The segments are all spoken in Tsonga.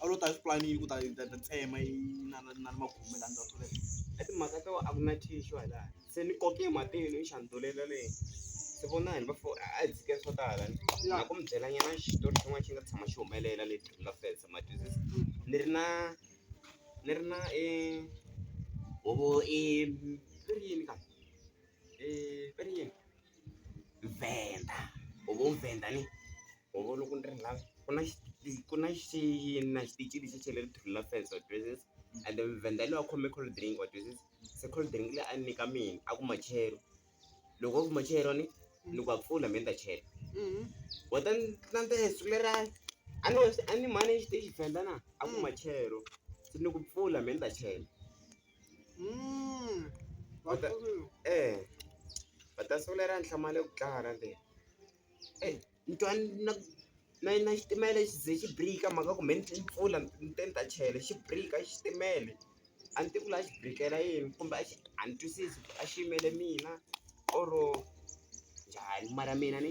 a wu lo ta xipulani yi ku ta ta ta tsema yi na na na magume la ndzhaku sweswo i timhaka to a ku na tissue hala se ni koke matino yi xindzulela leyi ni vona hi va four a hi dzike swo tala ni na ku mi byela nyana xitori xin'wana xi nga tshama xi humelela lexi nga fesa ma twisisa ni ri na ni ri na i huvo i ri yini ka i ri yini. Venda u ngo venda ni u vona ku ni ri lava ku na xi ku na xi na xitichi lexi xa le ritlhelweni la fence wa twisisa ende Venda loyi a khome cold drink wa twisisa se cold drink leyi a ni nyika mina a ku machelo loko a ku machelo ni ni ku a pfula me ni ta chela wa ta ni landzela siku leriya a ni a ni mhani exitichi Venda na a ku machelo se ni ku pfula me ni ta chela. eya va ta sungula ra ntlhanu mali ya ku tlanga ra leyi eyi ni twa ni na na yini na xitimela xi ze xi birika mhaka ku me ni mpfula ni te ni ta chayela xi birika xitimele a ni tivi ku la xi birikela yini kumbe a xi a ni twisisi a xi yimele mina or njhani mara mina ni.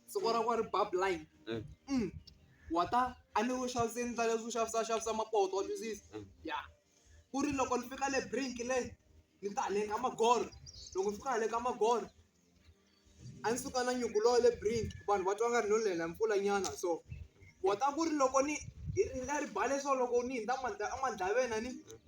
siku ra ku ri ba blind mm. mm. wa ta a ni wu xaviseni ndla leswi u xavisa xavisa mapoto wa twisisa mm. ya ku ri loko ni fika le brink le ni ta le ka magoro loko ni fika le ka magoro a ni suka na nyuku lowo le brink vanhu va twa nga ri no lela mpfula nyana so wa ta ku ri loko ni hi ri nga ri bale so loko ni hindza a mandlaveni a ni mm.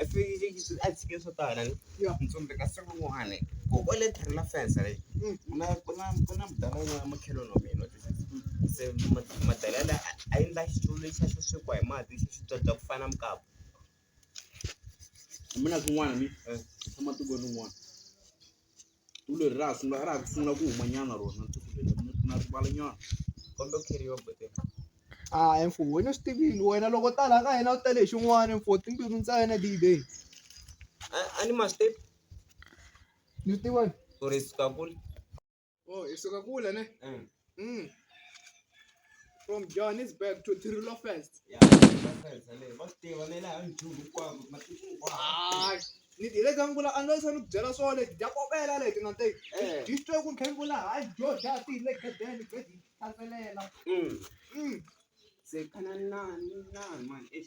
I swi a tshike swo tala ni ya mi tsundzeka siku rin'wani ku u le tlhelo la fence leyi ku na ku na ku na mudala wun'wana makhelwani wa mina se madalela la a endla xitulu lexa xo swekiwa hi mati xi xi byabya ku fana na mukapu mina swin'wana ni tshama tiko rin'wana. tiko leri ra ha sungula ra ha ku sungula ku humanyana rona tiko leri na rivala nyana kombela ku kheriwa bebe a mfo wena swi tivile wena loko ta laha ka hina u tele hi xin'wana mfo timbilu ntsena dibe a ni ma swi tivi ni swi tivani or swi kakuli Oh, isuka kule ne. Mm. Mm. From Johannesburg to Tirilo first. Yeah, first. Ale, bakutiva le laha njhulu kwako matiko kwako. Hayi. Ni dile ka ngula a ndzi sanu byela swo le dya kopela le tina te. Eh. Dyi twe ku khengula hayi dyo dya ti le gadeni dyi dyi thantelela. Mm. Mm. Se kana nani nani man. Eh.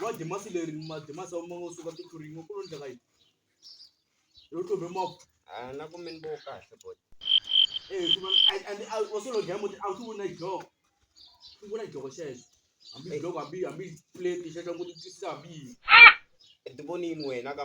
wa demasi leri mademasi a ma ngo suka tikhurinyingo ku lo ndleka yini yo tlove moko a na ku mini vo kahle bot wa solo dlaya muti a swi vona joko swi vona joko xexo hambi joko hambi hambi plate xexo ku titisa hambi yini ti vonini wena ka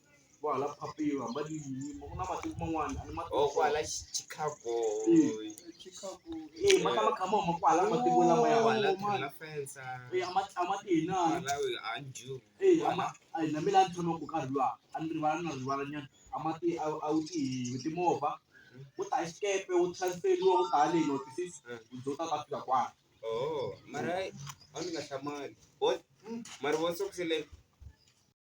vo hala phapiwa hamba ni yini ku na matiko man'wana a ni ma oh kwala Chicago eh ma ka ma khama ma kwala matiko lama ya wala la fensa eh ama ama tina la we anju eh ama ai na mina nthono ku karhi lwa a ni rivala na rivala nyana ama ti a u ti timovha u ta xikepe u transferiwa u ta le no tisisi u zo ta ta fika kwala oh mara a ni nga hlamali boy mara wo sokusele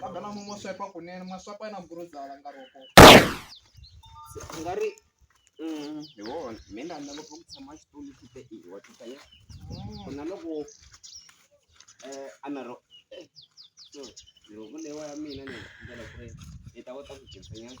kambe na mo swipe kunene ma swipe na guruza la nga roko u nga ri mm, hi wona mi ni rhandza ngopfu ku tshama xitulu xi te i wa tita ya ku na loko eh, a na ro eh, so, loko lewa ya mina ni ndlela ku ri ni ta kota ku dyondzisa nyana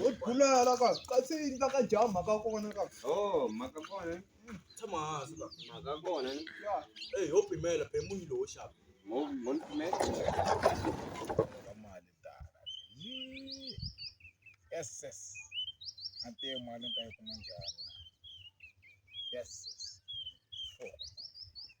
Wo bulela ka ka se yi ka jaha mhaka kona ka. Oh, mhaka kona. Tshama hansi ka. Mhaka kona. Ya. Eh, ho pimela pe munhu lowo xava. Mo mo pimela. Mali ta. Yes, yes. Ante mali ta yi kuma njhani? Yes.